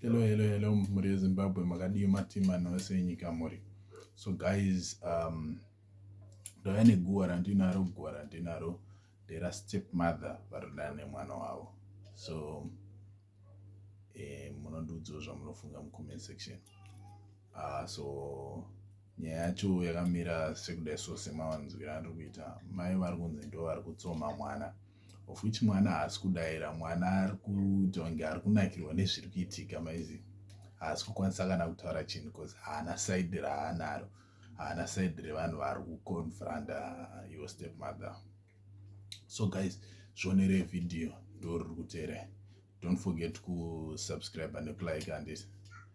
Hello, hello, hello, mhuri yeZimbabwe, makadii matima nose enyika muri. So guys, um, ndauya neguva randinaro, guva randinaro ndera step mother varoda nemwana wavo. So eh, munondiudzawo zvamunofunga mucomment section. Uh, so nyaya yacho yakamira sekudai so semawanzwira andiri kuita mai vari kunzi ndo vari kutsoma mwana. So, of which mwana haasi kudaira mwana ari kuita kunge ari kunakirwa nezviri kuitika maizi haasi kukwanisa kana kutaura chinhu bcause haana saidi raanaro haana saidi revanhu vari kuconfronta your step mother so guys zvionere vhidhiyo ndoriri kuteerai don't forget kusubscribe nekulike andis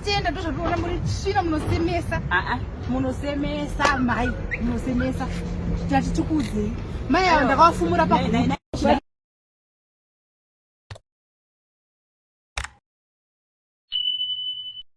Tenda tozvatoona muri tsvina munosemesa. Ah ah munosemesa mai munosemesa. Tati tikudzei. Mai avo ndakawafumura pa